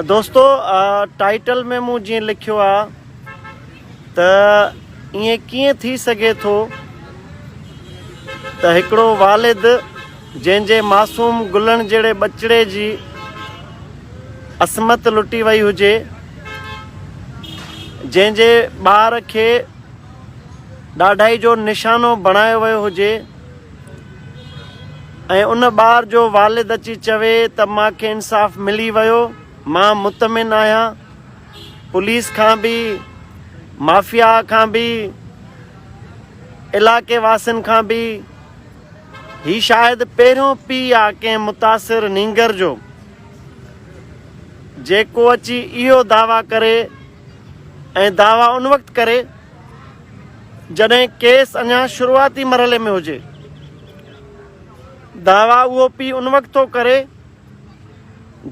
دوستو ٽائيٽل ۾ مون جيئن لکيو آ ته ائين ڪيئن ٿي سگهي ٿو ته هڪڙو والد جنهن جي معصوم گلن جهڙي ٻچڙي جي عصمت لٽي وئي هجي جنهن جي ٻار کي ڏاڍائي جو نشانو بڻايو ويو هجي ۽ ان ٻار جو والد اچي چوي ته مان کي انصاف ملي ويو مان مطمئن آهيان پوليس کان به مافيا کان به علاقي واسين کان به هي شايد پهريون پي آهي ڪنهن متاثر نينگر جو جيڪو اچي اهو دعويٰ ڪري ۽ دعويٰ ان وقت ڪري جڏهن ڪيس اڃا شروعاتي مرحلي ۾ هجي. دعويٰ اهو پي ان وقت ٿو ڪري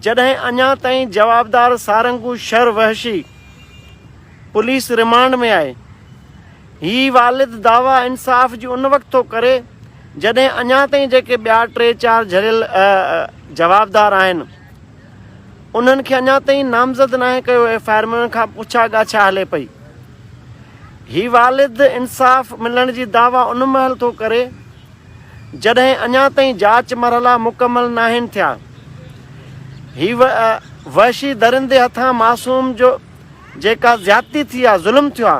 جڏهن اڃا تائين جوابدار سارنگو شر وحشي پوليس ريمانڊ ۾ آهي. هي والد دعويٰ انصاف جي ان وقت ٿو ڪري جڏهن اڃا تائين جيڪي ٻيا ٽي چار جهريل جوابدار آهن. انهن کي اڃا تائين نامزد ناهي ڪيو، ايف آء آر ۾ انهن کان پڇا ڳاڇا هلي پئي. هي والد انصاف ملڻ جي دعويٰ ان مهل ٿو ڪري جڏهن اڃا تائين جاچ مرحلا مڪمل ناهن ٿيا. هي وحشي درندي هٿان معصوم جو جيڪا زيادتي ٿي آ، ظلم ٿيو آ،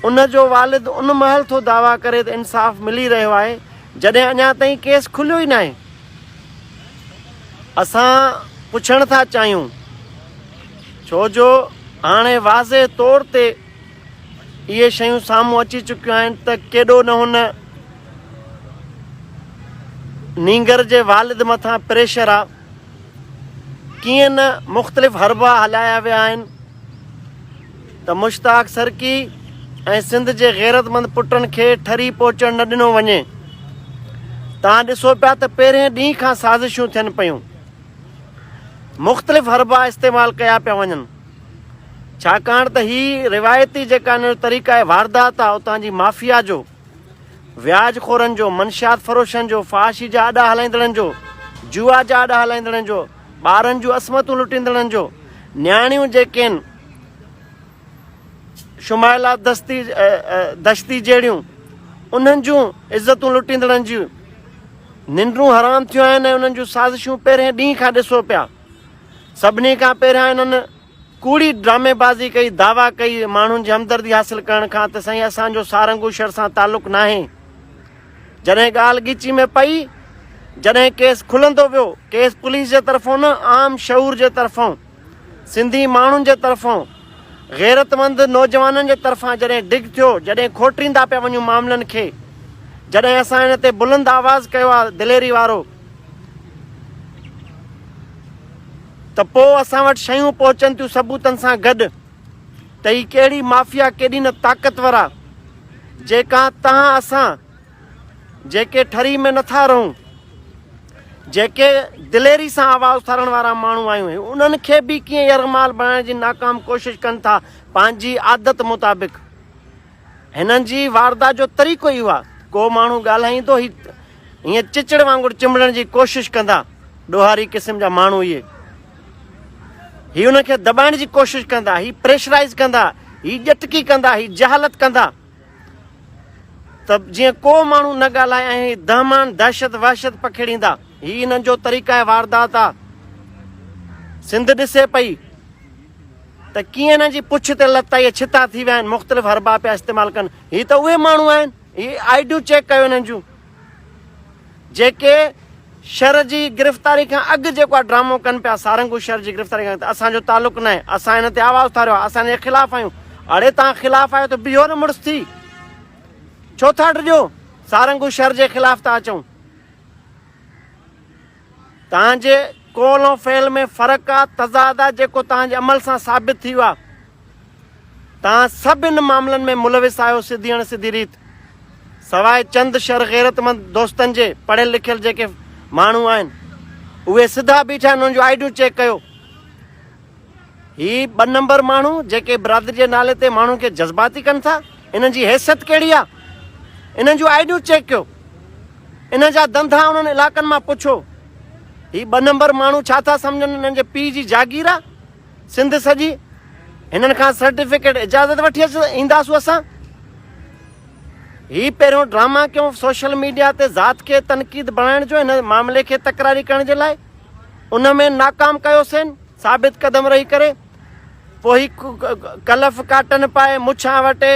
ان جو والد ان مهل ٿو دعويٰ ڪري ته انصاف ملي رهيو آهي جڏهن اڃا تائين ڪيس کليو ئي ناهي. اسان پڇڻ ٿا چاهيون ڇو جو هاڻي واضح طور تي اهي شيون سامهون اچي چڪيون آهن ته ڪيڏو نه هن نينگر جي والد مٿان پريشر آ ڪيئن نه مختلف حربا هلايا ويا آهن ته مشتاق سرڪي ۽ سنڌ جي غيرتمند پٽن کي ٺري پهچڻ نه ڏنو وڃي. تان ڏسو پيا ته پهرين ڏينهن کان سازشون ٿين پيون. مختلف حربا استعمال ڪيا پيا وڃن. ڇاڪاڻ ته هي روايتي جيڪا هن جو طريقه واردات آ اتان جي مافيا جو، وياج خورن جو، منشيات فروشن جو، فحاشي جا اڏا هلائيندڙن جو، جوا جا اڏا هلائيندڙن جو، ٻارن جون عصمتون لٽيندڙن جو، نياڻيون جيڪين، شمائلا دستي دشتي جهڙيون انهن جون عزتون لٽيندڙن جون ننڊون حرام ٿيون آهن ۽ انهن جون سازشون پهرين ڏينهن کان ڏسو پيا سڀني کان پهريان انهن ڪوڙي ڊرامي بازي ڪئي دعويٰ ڪئي ماڻهن جي همدردي حاصل ڪرڻ کان ته سائين اسانجو سارنگو شهر سان تعلق ناهي جڏهن ڳالهه ڳچي ۾ پئي جڏهن ڪيس کلندو ويو ڪيس پوليس جي طرفون نه عام شعور جي طرفون سنڌي ماڻهن جي طرفان، غيرتمند نوجوانن جي طرفان جڏهن ڊگ ٿيو، جڏهن کوٽريندا پيا وڃون معاملن کي، جڏهن اسان ان تي بلند آواز ڪيو آ دليري وارو، ته پوء اسان وٽ شيون پهچن ٿيون ثبوتن سان گڏ، ته هي ڪهڙي مافيا ڪيڏي نه طاقتور آ، جيڪا تهان اسان جيڪي ٺري ۾ نٿا رهون، جيڪي دليري سان آواز اٿارڻ وارا ماڻهو آهيون، انهن کي به ڪيئن يرغمال بڻائڻ جي ناڪام ڪوشش ڪن ٿا، پنهنجي عادت مطابق هنن جي واردات جو طريقو اهو آهي، ڪو ماڻهو ڳالهائيندو هي هيئن چچڙ وانگر چنبڙڻ جي ڪوشش ڪندا، ڏوهاري قسم جا ماڻهو اهي، هي انهن کي دٻائڻ جي ڪوشش ڪندا، هي پريشرائيز ڪندا، هي ڄٽڪي ڪندا، هي جهالت ڪندا. ته جيئن ڪو ماڻهو نه ڳالهائي ۽ هي دهمان دهشت وحشت پکيڙيندا. هي انهن جو طريقه واردات آ. سنڌ ڏسي پئي ته ڪيئن انهن جي پڇ تي لت آئي ڇتا ٿي ويا آهن مختلف حربا پيا استعمال ڪن. هي ته اهي ماڻهو آهن هي آئيڊيون چيڪ ڪيو انهن جون جيڪي شھر جي گرفتاري کان اڳ جيڪو اھا ڊرامو ڪن پيا سارنگو شھر جي گرفتاري کان اڳ ته اسان جو تعلق ناھي اسان ھن تي آواز اٿاريو آھي اسان ھن جي خلاف آھيون اڙي تھان خلاف آھيو ته بيھو نه مڙس ٿي ڇو ٿا ڊڄو سارنگو شھر جي خلاف ٿا اچون. تنهن جي قول ۽ فعل ۾ فرق آ، تضاد آ، جيڪو تنهن جي عمل سان ثابت ٿيو آ. تنهن سڀ ان معاملن ۾ ملوث آهيو سڌي اڻ سڌي ريت. سواء چند شر غيرتمند دوستن جي، پڙهيل لکيل جيڪي ماڻهو آهن، اهي سڌا بيٺا آهن، انهن جون آئيڊيون چيڪ ڪيو. هي ٻه نمبر ماڻهو جيڪي برادري جي نالي تي ماڻهن کي جذباتي ڪن ٿا انهن جي حيثيت ڪهڙي آ انهن جون آئيڊيون چيڪ ڪيو انهن جا دنڌا انهن علاقن مان پڇو هي ٻه نمبر ماڻهو ڇا ٿا سمجهن انهن جي پي جي جاگير آ سنڌ سڄي هنن کان سرٽيفڪيٽ اجازت وٺي اچ اينداسون اسان هي پهريون ڊراما ڪيون سوشل ميڊيا تي ذات کي تنقيد بڻائڻ جو هن معاملي کي تڪراري ڪرڻ جي لاء ان ۾ ناڪام ڪيوسين ثابت قدم رهي ڪري پوء هي ڪلف ڪاٽن پائي مڇان وٽي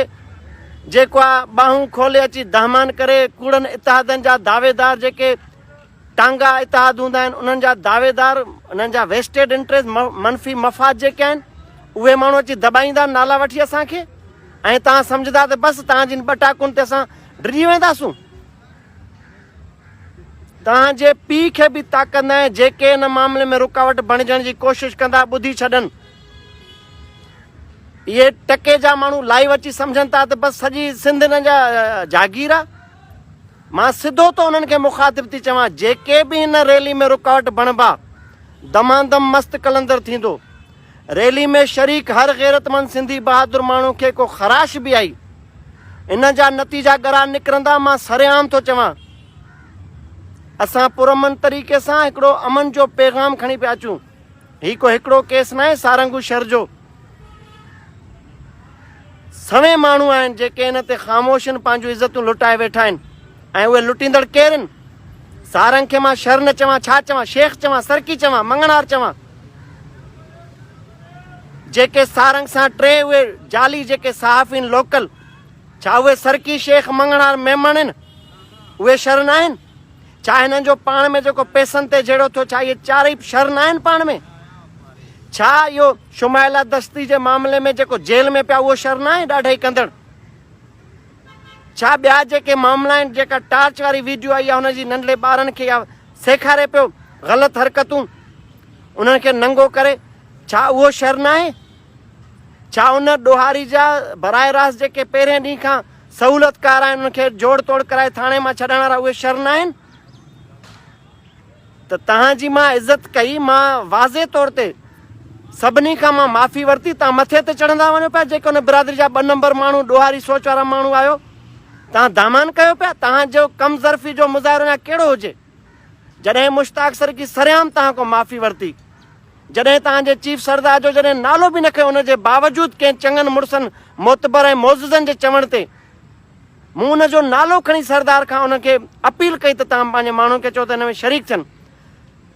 جيڪو آ ٻانهون کولي اچي دهمان ڪري ڪوڙن اتحادن جا دعويدار جيڪي ٽانگا اتحاد هوندا آهن انهن جا دعويدار انهن جا ويسٽيڊ انٽريسٽ منفي مفاد جيڪي آهن اهي ماڻهو اچي دٻائيندا نالا وٺي اسان کي ۽ تان سمجهدا ته بس تان جن ٻٽاڪن تي اسان ڊڄي وينداسون توهان جي پيء کي به تاڪندا ۽ جيڪي ان معاملي ۾ رڪاوٽ بڻجڻ جي ڪوشش ڪندا ٻڌي ڇڏن. اهي ٽڪي جا ماڻهو لائيو اچي سمجهن ٿا ته بس سڄي سنڌ هن جا جاگير آ مان سڌو تو انهن کي مخاطب ٿي چوان جيڪي به ان ريلي ۾ رڪاوٽ بڻبا دماندم مست قلندر ٿيندو ريلي ۾ شريڪ هر غيرتمند سنڌي بهادر ماڻهو کي ڪو خراش به آئي ان جا نتيجا ڳرا نڪرندا مان سرعام ٿو چوان اسان پرامن طريقي سان هڪڙو امن جو پيغام کڻي پيا اچون هي ڪو هڪڙو ڪيس ناهي سارنگو شهر جو سوين ماڻهو آهن جيڪي ان تي خاموشن پنهنجون عزتون لٽائي ويٺا آهن ۽ اهي لٽيندڙ ڪير هن؟ سارنگ کي مان شر نه چوان، ڇا چوان؟ شيخ چوان، سرڪي چوان، مڱڻهار چوان؟ جيڪي سارنگ سان ٽي اهي جعلي جيڪي صحافي هن لوڪل، ڇا اهي سرڪي، شيخ، مڱڻهار، ميمڻ هن؟ اهي شر ناهن؟ ڇا هنن جو پاڻ ۾ جيڪو پيسن تي جهيڙو ٿيو، ڇا اهي چارئي به شر ناهن پاڻ ۾؟ ڇا اهو شمائلا دستي جي معاملي ۾ جيڪو جيل ۾ پيا اهو شر ناهي ڏاڍائي ڪندڙ؟ ڇا ٻيا جيڪي معاملا آهن جيڪا ٽارچ واري ويڊيو آئي آهي ان جي ننڍڙي ٻارن کي يا سيکاري پيو غلط حرڪتون انهن کي ننگو ڪري ڇا اهو شر ناهي ڇا ان ڏوهاري جا برائي راست جيڪي پهرين ڏينهن کان سهولتڪار آهن انهن کي جوڙ توڙ ڪرائي ٿاڻي مان ڇڏائڻ وارا اهي شر ناهن ته توهان جي مان عزت ڪئي، مان واضح طور تي سڀني کان مان معافي ورتي، توهان مٿي تي چڙهندا وڃو پيا، جيڪي ان برادري جا ٻه نمبر ماڻهو ڏوهاري سوچ وارا ماڻهو آهيو، توهان دامان ڪيو پيا، توهان جو ڪم ظرفي جو مظاهرو يا ڪهڙو هجي، جڏهن مشتاق سرڪي سرعام توهان کان معافي ورتي، جڏهن توهان جي چيف سردار جو جڏهن نالو به نه کنيو ان جي باوجود ڪئين چڱن مڙسن معتبر ۽ معززن جي چوڻ تي، مون ان جو نالو کڻي سردار کان انهن کي اپيل ڪئي ته توهان پنهنجي ماڻهن کي چئو ته هن ۾ شريڪ ٿين.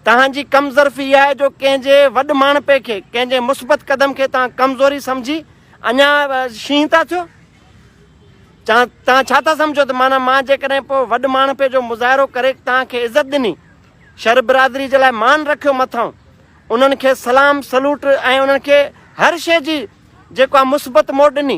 توهان جي ڪم ظرفي اها آهي جو ڪنهن جي وڏ ماڻهپي کي، ڪنهن جي مثبت قدم کي توهان ڪمزوري سمجهي اڃا شينهن ٿا ٿيو. توهان ڇا ٿا سمجهو ته معنيٰ مان جيڪڏهن پوء وڏ ماڻهپي جو مظاهرو ڪري توهان کي عزت ڏني، شر برادري جي لاء مان رکيو مٿانهون انهن کي سلام سلوٽ ۽ انهن کي هر شيء جي جيڪو آهي مثبت موٽ ڏني،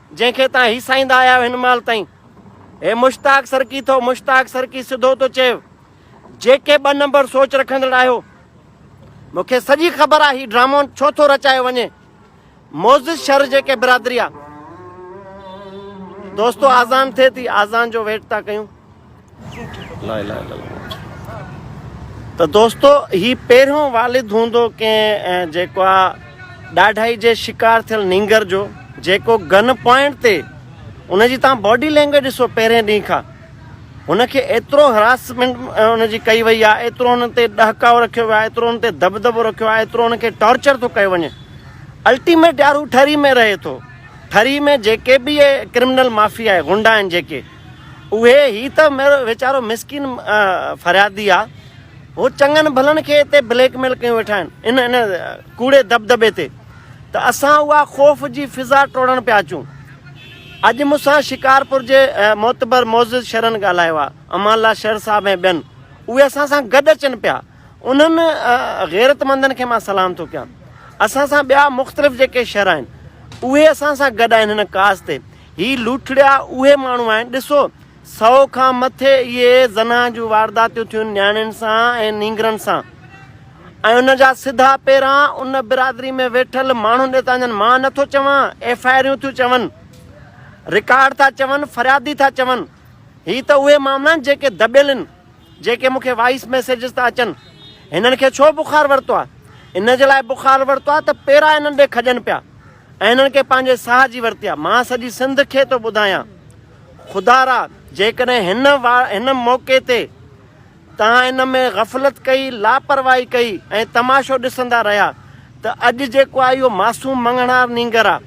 جنهن کي تان هيسائيندا آيا آهيو هن مهل تائين. هي مشتاق سرڪي ٿو مشتاق سرڪي سڌو ٿو چئي جيڪي ٻه نمبر سوچ رکندڙ آهيو مون کي سڄي خبر آهي هي ڊرامو ڇو ٿو رچايو وڃي موزز شهر جيڪي برادري آ دوستو آزان ٿئي ٿي آزان جو ويٽ ٿا ڪيون ته دوستو هي پهريون والد هوندو ڪنهن جيڪو آ ڏاڍائي جي شڪار ٿيل نينگر جو جيڪو گن پوائنٽ تي ان جي تان باڊي لينگويج ڏسو پهرين ڏينهن کان هن کي ايترو هراسمنٽ ان جي ڪئي وئي آ ايترو هن تي ڏهڪاء رکيو ويو آ ايترو هن تي دبدبو رکيو آ ايترو هن کي ٽارچر ٿو ڪيو وڃي الٽيميٽ يار هو ٺري ۾ رهي ٿو ٺري ۾ جيڪي به اهي ڪرمنل مافيا آهي غنڊا آهن جيڪي اهي هي ته ويچارو مسڪين فريادي آ هو چڱن ڀلن کي اتي بليڪ ميل ڪيون ويٺا آهن ان ان ڪوڙي دبدبي تي ته اسان اها خوف جي فضا ٽوڙڻ پيا اچون اڄ مونسان شڪارپور جي معتبر معزز شهرن ڳالهايو آ امان الله شهر صاحب ۽ ٻين اهي اسان سان گڏ اچن پيا انهن غيرتمندن کي مان سلام ٿو ڪيان. اسان سان ٻيا مختلف جيڪي شھر آھن اھي اسان سان گڏ آھن ھن ڪاز تي. ھي لوٽڙيا اھي ماڻھو آھن ڏسو سئو کان مٿي اھي زنا جون وارداتيون ٿيون نياڻين سان ۽ نينگرن سان ۽ ان جا سڌا پيران ان برادري ۾ ويٺل ماڻھن ڏي ٿا وڃن مان نٿو چوان ايف آئي آريون ٿيون چون رڪارڊ ٿا چون فريادي ٿا چون ھي ته اھي معاملا آھن جيڪي دٻيل آھن جيڪي مون کي وائيس ميسيجز ٿا اچن هنن کي ڇو بخار ورتو آ ان جي لاء بخار ورتو آ ته پيرا هنن ڏي کڄن پيا ۽ هنن کي پنهنجي ساهه جي ورتي آ مان سڄي سنڌ کي ٿو ٻڌايان خدا را جيڪڏهن هن هن موقعي تي توهان ان ۾ غفلت ڪئي لاپرواهي ڪئي ۽ تماشو ڏسندا رهيا ته اڄ جيڪو آهي اهو معصوم مڱڻهار نينگر آهي،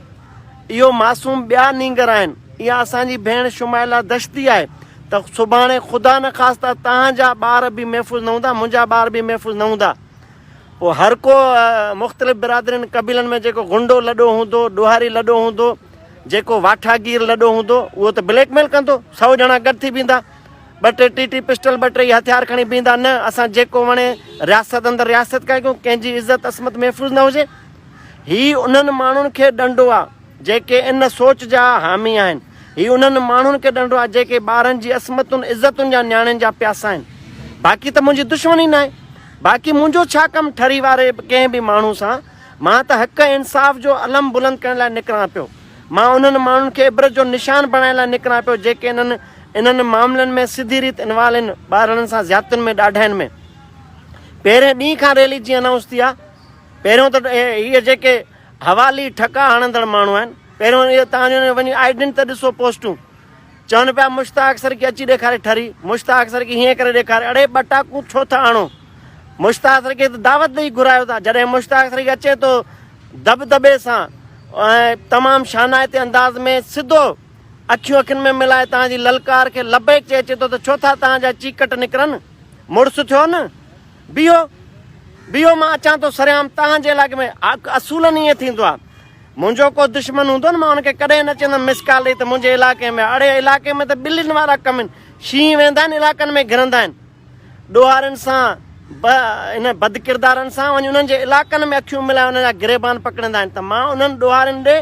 اهو معصوم ٻيا نينگر آهن، اها اسان جي ڀيڻ شمائلا دشتي آهي ته سڀاڻي خدا نخواسته توهان جا ٻار به محفوظ نه هوندا، منهنجا ٻار به محفوظ نه هوندا. پوء هر ڪو مختلف برادرين قبيلن ۾ جيڪو غنڊو لڏو هوندو، ڏوهاري لڏو هوندو، جيڪو واٺاگير لڏو هوندو اهو ته بليڪ ميل ڪندو، سؤ ڄڻا گڏ ٿي بيهندا. ٻه ٽي ٽي ٽي پسٽل ٻه ٽي هٿيار کڻي بيهندا نه اسان جيڪو وڻي رياست اندر رياست ڪيا ڪيون ڪنهن جي عزت عصمت محفوظ نه هجي هي انهن ماڻهن کي ڏنڊو آ جيڪي ان سوچ جا حامي آهن هي انهن ماڻهن کي ڏنڊو آ جيڪي ٻارن جي عصمتن عزتن جا نياڻين جا پياسا آهن باقي ته منهنجي دشمن ئي ناهي باقي منهنجو ڇا ڪم ٺري واري ڪنهن به ماڻهو سان مان ته حق ۽ انصاف جو علم بلند ڪرڻ لاء نڪران پيو. مان انهن ماڻهن کي عبرت جو نشان بڻائڻ لاء نڪران پيو جيڪي انهن انهن معاملن ۾ سڌي ريت انوالين ٻارڙن سان زيادتين ۾ ڏاڍاين ۾. پهرين ڏينهن کان ريلي جيئن انائونس ٿي آهي پهريون ته هي جيڪي حوالي ٺڪا هڻندڙ ماڻهو آهن پهريون اهي تهان جو وڃي آئيڊنٽ ته ڏسو پوسٽون چون پيا مشتاق سرڪي اچي ڏيکاري ٺري، مشتاق سرڪي هيئن ڪري ڏيکاري، اڙي ٻه ٽاڪون ڇو ٿا آڻو، مشتاق سرڪي تي دعوت ڏئي گهرايو ٿا، جڏهن مشتاق سرڪي اچي ٿو دٻدٻي سان ۽ تمام شانائتي انداز ۾ سڌو اکيون اکين ۾ ملائي توهان جي للڪار کي لبيڪ چئي اچي ٿو ته ڇو ٿا توهان جا چيڪٽ نڪرن، مڙس ٿيو نه، بيهو، بيهو مان اچان ٿو سرعام توهان جي علائقي ۾، اصولن ائين ٿيندو آهي، منهنجو ڪو دشمن هوندو نه مان ان کي ڪڏهن نه چيندم مس ڪال ڏئي ته منهنجي علائقي ۾ اڙي علائقي ۾ ته ٻلين وارا ڪم آهن شينهن ويندا آهن علائقن ۾ گهرندا آهن ڏوهارين سان انهن بدڪردارن سان وڃي انهن جي علائقن ۾ اکيون ملائي انهن جا گريبان پڪڙيندا آهن ته مان انهن ڏوهارين ڏي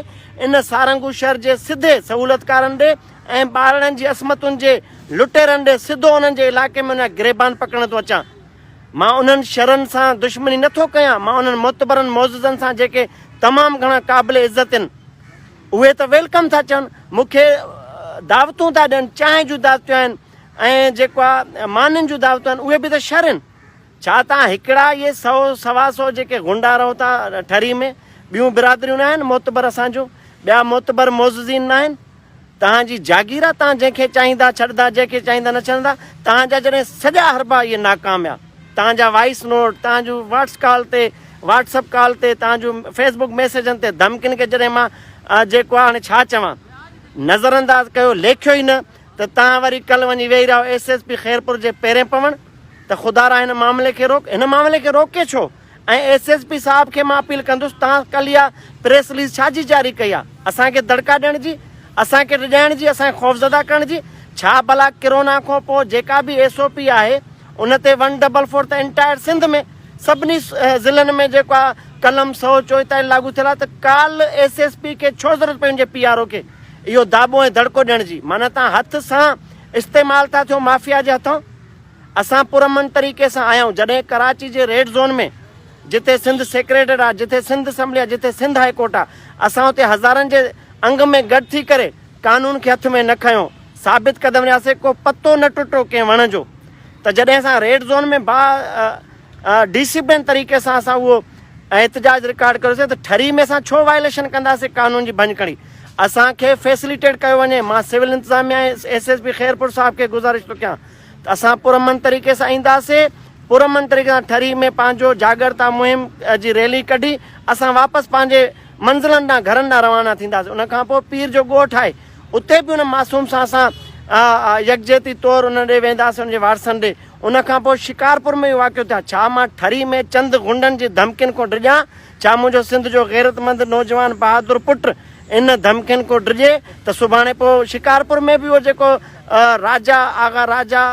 ان سارنگو شهر جي سڌي سهولتڪارن ڏي ۽ ٻارڙن جي عصمتن جي لٽيرن ڏي سڌو انهن جي علائقي ۾ انهن جا گريبان پڪڙڻ ٿو اچان. مان انهن شرن سان دشمني نه ٿو ڪيان، مان انهن معتبرن معززن سان جيڪي تمام گهڻا قابل عزت هن، اهي ته ويلڪم ٿا چون، مون کي دعوتون ٿا ڏين، چانهه جون دعوتون آهن ۽ جيڪا مانين جون دعوتون آهن، اهي به ته شر هن. ڇا توهان هڪڙا اهي سؤ سوا سؤ جيڪي غنڊا رهو ٿا ٺري ۾، ٻيون برادريون ناهن، معتبر اسان جون ٻيا معتبر معززين ناهن؟ توهان جي جاگير آ، توهان جنهن کي چاهيندا ڇڏندا، جنهن کي چاهيندا نه ڇڏندا، توهان جا جڏهن سڄا حربا اهي ناڪاميا، توهان جا وائيس نوٽ، توهان جون واٽس ڪال تي، واٽس اپ ڪال تي، توهان جون فيس بڪ ميسيجن تي ڌمڪين کي جڏهن مان جيڪو آ هاڻي ڇا چوان، نظر انداز ڪيو، ليکيو ئي نه ته توهان وري ڪل وڃي ويهي رهيا ايس ايس پي خيرپور جي پيرين پوڻ ته خدارا هن معاملي کي روڪ، هن معاملي کي روڪي ڇو؟ ۽ ايس ايس پي صاحب کي مان اپيل ڪندس توهان ڪل اها پريس رليز ڇا جي جاري ڪئي آ اسان کي دڙڪا ڏيڻ جي اسان کي ڊڄائڻ جي اسان کي خوفزده ڪرڻ جي ڇا بلا ڪرونا کان پو جيڪا به ايس او پي آهي ان تي ون ڊبل فور ته انٽائر سنڌ ۾ سڀني ضلعن ۾ جيڪو آ قلم سو چوئتايل لاڳو ٿيل آ ته ڪال ايس ايس پي کي ڇو ضرورت پئي انجي پي آر او کي اهو داٻو ۽ دڙڪو ڏيڻ جي معنيٰ توهان هٿ سان استعمال ٿا ٿيو مافيا جي هٿان. اسان پرامن طريقي سان آيائون جڏهن ڪراچي جي ريڊ زون ۾ جتي سنڌ سيڪريٽريٽ آ جتي سنڌ اسمبلي آ جتي سنڌ هاء ڪورٽ آ اسان اتي هزارن جي انگ ۾ گڏ ٿي ڪري قانون کي هٿ ۾ نه کنيو ثابت قدم رهياسي ڪو پتو نه ٽٽو ڪنهن وڻ جو ته جڏهن اسان ريڊ زون ۾ با ڊسپلين طريقي سان اسان اهو احتجاج رڪارڊ ڪيوسي ته ٺري ۾ اسان ڇو وائليشن ڪنداسي قانون جي ڀڃ کڻي اسان کي فيسليٽيٽ ڪيو وڃي مان سول انتظاميا ايس ايس پي خيرپور صاحب کي گزارش ٿو ڪيان ته اسان پرامن طريقي سان اينداسين، پرامن طريقي سان ٺري ۾ پنهنجو جاڳرتا مهم جي ريلي ڪڍي اسان واپس پنهنجي منزلن ڏانهن گهرن ڏانهن روانا ٿينداسين، ان کان پوء پير جو ڳوٺ آهي اتي به ان معصوم سان اسان يڪجهتي طور انهن ڏي وينداسين ان جي وارثن ڏي، ان کان پوء شڪارپور ۾ به واقعو ٿيو آهي، ڇا مان ٺري ۾ چند غنڊن جي ڌمڪين کون ڊڄان؟ ڇا منهنجو سنڌ جو غيرتمند نوجوان بهادر پٽ ان ڌمڪين کون ڊڄي ته سڀاڻي پوء شڪارپور ۾ به اهو جيڪو راجا آغا راجا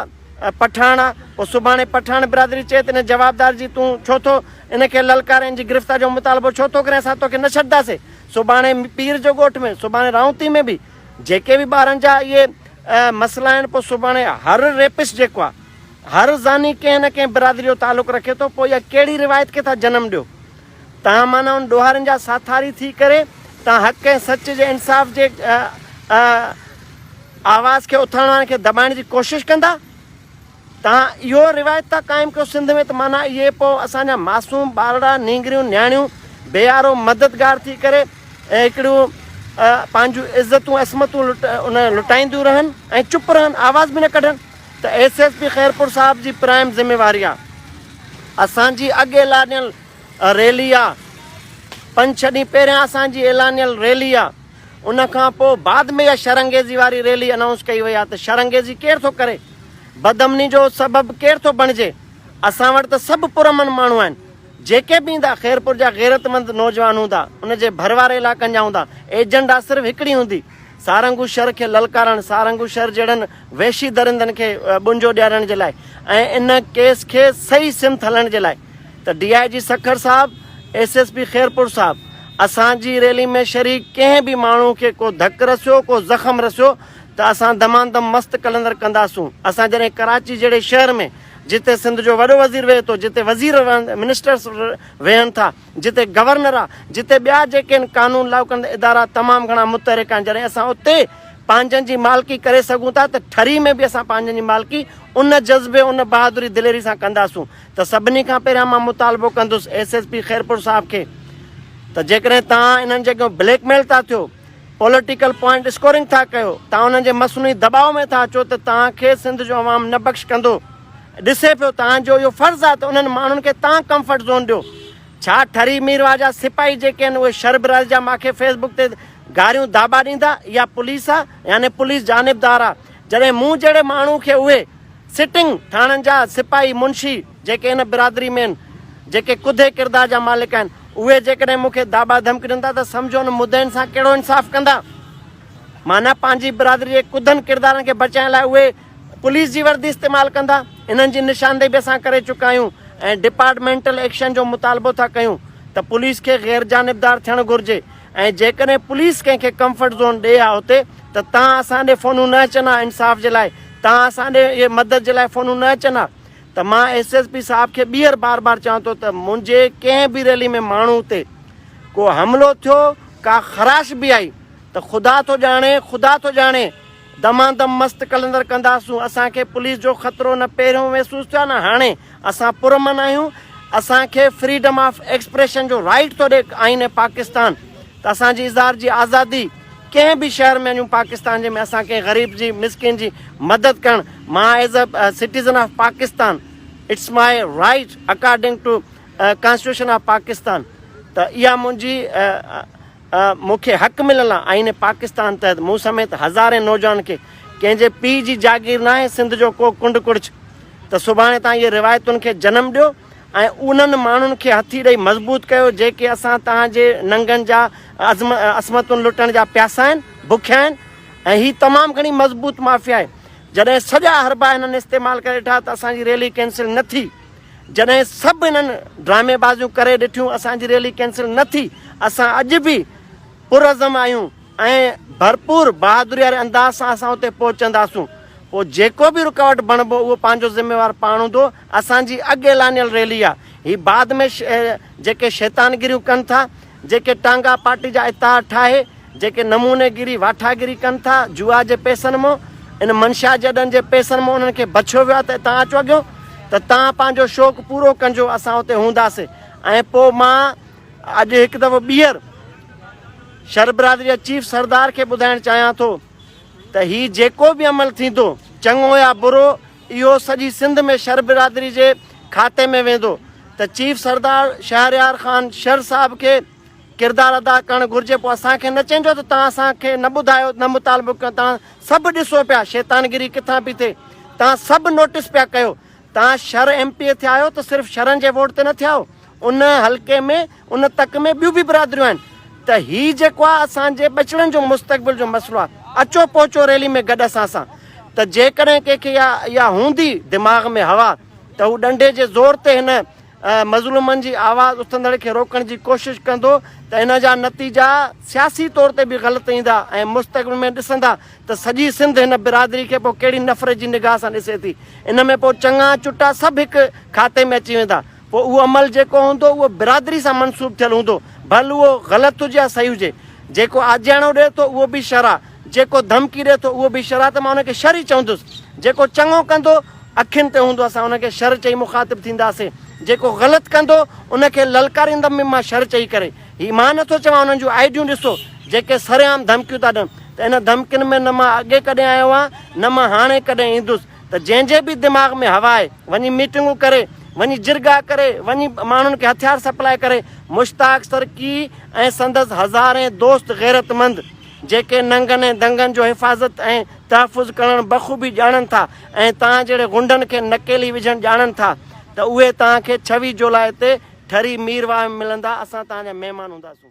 پٺاڻ آ پوء سڀاڻي پٺاڻ برادري چئي ته ان جوابدار جي تون ڇو ٿو ان کي للڪارين جي گرفتار جو مطالبو ڇو ٿو ڪرين اسان توکي نه ڇڏداسي سڀاڻي پير جو ڳوٺ ۾ سڀاڻي رائونتي ۾ به جيڪي به ٻارن جا اهي مسئلا آهن پوء سڀاڻي هر ريپسٽ جيڪو آ هر زاني ڪنهن نه ڪنهن برادري جو تعلق رکي ٿو، پوء اها ڪهڙي روايت کي ٿا جنم ڏيو؟ تهان معنيٰ ان ڏوهارين جا ساٿاري ٿي ڪري تهان حق ۽ سچ جي انصاف جي آواز کي اٿارڻ وارن کي دٻائڻ جي ڪوشش ڪندا؟ تهان اهو روايت ٿا قائم ڪيو سنڌ ۾ ته معنيٰ اهي پوء اسان جا معصوم ٻارڙا، نينگريون، نياڻيون بيارو مددگار ٿي ڪري هڪڙيون پنهنجون عزتون عصمتون لٽائينديون رهن ۽ چپ رهن، آواز به نه ڪڍن؟ ته ايس ايس پي خيرپور صاحب جي پرائم ذميواري آ اسان جي اڳ اعلانيل ريلي آ پنج ڇهه ڏينهن پهريان اسان جي اعلانيل ريلي آ ان کان پو بعد ۾ اها شرانگيزي واري ريلي انائونس ڪئي وئي آ ته شرانگيزي ڪير ٿو ڪري بدامني جو سبب ڪير ٿو بڻجي اسان وٽ ته سڀ پرامن ماڻهو آهن جيڪي به ايندا خيرپور جا غيرتمند نوجوان هوندا ان جي ڀر واري علائقن جا هوندا ايجنڊا صرف هڪڙي هوندي. سارنگو شھر کي للڪارڻ، سارنگو شھر جهڙن وحشي درندن کي ٻنجو ڏيارڻ جي لاء ۽ ان ڪيس کي صحيح سمت ھلڻ جي لاء ته ڊي آء جي سکر صاحب، ايس ايس پي خيرپور صاحب، اسان جي ريلي ۾ شريڪ ڪنھن به ماڻھو کي ڪو ڌڪ رسيو، ڪو زخم رسيو ته اسان دماندم مست قلندر ڪنداسون. اسان جڏھن ڪراچي جهڙي شهر ۾ جتي سنڌ جو وڏو وزير ويھي ٿو، جتي وزير، منسٽرس، ويھن ٿا، جتي گورنر آ، جتي ٻيا جيڪي هن قانون لاڳو ڪندڙ ادارا تمام گهڻا متحرڪ آهن جڏهن اسان اتي پنهنجن جي مالڪي ڪري سگهون ٿا ته ٺري ۾ به اسان پنهنجن جي مالڪي ان جذبي ان بهادري دليري سان ڪنداسون ته سڀني کان پهريان مان مطالبو ڪندس ايس ايس پي خيرپور صاحب کي ته جيڪڏهن تان انهن جي اڳيان بليڪ ميل ٿا ٿيو پوليٽيڪل پوائنٽ اسڪورنگ ٿا ڪيو تان انهن جي مصنوعي دٻاء ۾ ٿا اچو ته تان کي سنڌ جو عوام نه بخش ڪندو ڏسي پيو توهان جو اهو فرض آهي ته انهن ماڻهن کي توهان ڪمفرٽ زون ڏيو. ڇا ٺري مير واهه جا سپاهي جيڪي آهن اهي شرب رحل جا ماکي فيس بڪ تي گاريون داٻا ڏيندا؟ اها پوليس آهي يعني پوليس جانبدار آهي جڏهن مون جهڙي ماڻهو کي اهي سٽنگ ٿاڻن جا سپاهي منشي جيڪي هن برادري ۾ آهن جيڪي ڪڌي ڪردار جا مالڪ آهن اهي جيڪڏهن مون کي داٻا ڌمڪي ڏين ٿا ته سمجهو ان مدعين سان ڪهڙو انصاف ڪندا؟ معنيٰ پنهنجي برادري جي ڪڌن ڪردارن کي بچائڻ لاء اهي پوليس جي وردي استعمال ڪندا انهن جي نشاندهي به اسان ڪري چڪا آهيون ۽ ڊپارٽمينٽل ايڪشن جو مطالبو ٿا ڪيون ته پوليس کي غير جانبدار ٿيڻ گهرجي ۽ جيڪڏهن پوليس ڪنهن کي ڪمفرٽ زون ڏي ها اتي ته تان اسان ڏي فونون نه اچن ها انصاف جي لاء تان اسان ڏي اهي مدد جي لاء فونون نه اچن ها ته مان ايس ايس پي صاحب کي ٻيهر بار بار چوان ٿو ته منهنجي ڪنهن به ريلي ۾ ماڻهو تي ڪو حملو ٿيو ڪا خراش به آئي ته خدا ٿو ڄاڻي خدا ٿو ڄاڻي دمادم مست قلندر ڪنداسون اسان کي پوليس جو خطرو نه پهريون محسوس ٿيو آهي نه هاڻي اسان پرامن آهيون اسان کي فريڊم آف ايڪسپريشن جو رائيٽ ٿو ڏي آئين پاڪستان ته اسان جي اظهار جي آزادي ڪنهن به شهر ۾ وڃون پاڪستان جي ۾ اسان ڪنهن غريب جي مسڪين جي مدد ڪرڻ مان as a citizen of Pakistan it's my right according to constitution of Pakistan ته اها منهنجي مون کي حق مليل آ آئين پاڪستان تحت مون سميت هزارين نوجوانن کي ڪنهن جي پيء جي جاگير ناهي سنڌ جو ڪو ڪنڊ ڪڙڇ ته سڀاڻي تان اهي روايتن کي جنم ڏيو ۽ انهن ماڻهن کي هٿي ڏئي مضبوط ڪيو جيڪي اسان تهان جي ننگن جا عظم عصمتون لٽڻ جا پياسا آهن بکيا آهن ۽ هي تمام گهڻي مضبوط مافيا آهي جڏهن سڄا حربا هنن استعمال ڪري ڏٺا ته اسان جي ريلي ڪينسل نه ٿي جڏهن سڀ انهن ڊرامي بازيون ڪري ڏٺيون اسان جي ريلي ڪينسل نه ٿي اسان اڄ به پرعزم آهيون ۽ ڀرپور بهادري واري انداز سان اسان اتي پهچنداسون پوء جيڪو به رڪاوٽ بڻبو اهو پنهنجو ذميوار پاڻ هوندو اسان جي اڳ اعلانيل ريلي آهي هي بعد ۾ جيڪي شيطانگريون ڪن ٿا جيڪي ٽانگا پارٽي جا اتحاد ٺاهي، جيڪي نموني گيري واٺاگيري ڪن ٿا، جوا جي پئسن مون، ان منشيات جي اڏن جي پئسن مون انهن کي بڇيو ويو آهي ته اتان اچ اڳيون ته توهان پنهنجو شوق پورو ڪنجو اسان اتي هونداسي ۽ پو مان اڄ هڪ دفعو ٻيهر شربرادري جا چيف سردار کي ٻڌائڻ چاهيان ٿو ته هي جيڪو به عمل ٿيندو چڱو يا برو اهو سڄي سنڌ ۾ شر برادري جي کاتي ۾ ويندو ته چيف سردار شهريار خان شر صاحب کي ڪردار ادا ڪرڻ گهرجي پوء اسان کي نه چئجو ته توهان اسان کي نه ٻڌايو نه مطالبو ڪيو توهان سڀ ڏسو پيا شيطانگري ڪٿان پي ٿئي توهان سڀ نوٽس پيا ڪيو توهان شر ايم پي اي ٿيا آهيو ته صرف شرن جي ووٽ تي نه ٿيا آهيو ان حلقي ۾ ان تڪ ۾ ٻيون به برادريون آهن ته هي جيڪو آهي اسان جي ٻچڙن جو مستقبل جو مسئلو آهي اچو پهچو ريلي ۾ گڏ اسان سان ته جيڪڏهن ڪنهن کي اها هوندي دماغ ۾ هوا ته هو ڏنڊي جي زور تي هن مظلومن جي آواز اٿندڙ کي روڪڻ جي ڪوشش ڪندو ته ان جا نتيجا سياسي طور تي به غلط ايندا ۽ مستقبل ۾ ڏسندا ته سڄي سنڌ هن برادري کي پوء ڪهڙي نفرت جي نگاهه سان ڏسي ٿي ان ۾ پوء چڱا چٽا سڀ هڪ کاتي ۾ اچي ويندا پوء اهو عمل جيڪو هوندو اهو برادري سان منسوب ٿيل هوندو، ڀل اهو غلط هجي يا صحيح هجي. جيڪو آجياڻو ڏئي ٿو اهو به شر آ، جيڪو ڌمڪي ڏئي ٿو اهو به شر آ ته مان ان کي شر ئي چوندس. جيڪو چڱو ڪندو اکين تي هوندو اسان ان کي شر چئي مخاطب ٿينداسين، جيڪو غلط ڪندو ان کي للڪاريندم به مان شر چئي ڪري. هي مان نه ٿو چوان انهن جون آئيڊيون ڏسو جيڪي سرعام ڌمڪيون ٿا ڏين ته ان ڌمڪين ۾ نه مان اڳي ڪڏهن آيو آهيان نه مان هاڻي ڪڏهن ايندس. ته جنهن جي به دماغ ۾ هوا آهي وڃي ميٽنگون ڪري وڃي جرڳا ڪري وڃي ماڻهن کي هٿيار سپلاء ڪري مشتاق سرڪي ۽ سندس هزارين دوست غيرت مند جيڪي ننگن ۽ دنگن جو حفاظت ۽ تحفظ ڪرڻ بخوبي ڄاڻن ٿا ۽ توهان جهڙي غنڊن کي نڪيلي وجهڻ ڄاڻن ٿا ته اهي توهان کي ڇويهه جولاء تي ٺري ميرواهه ۾ ملندا اسان توهان جا مهمان هونداسون.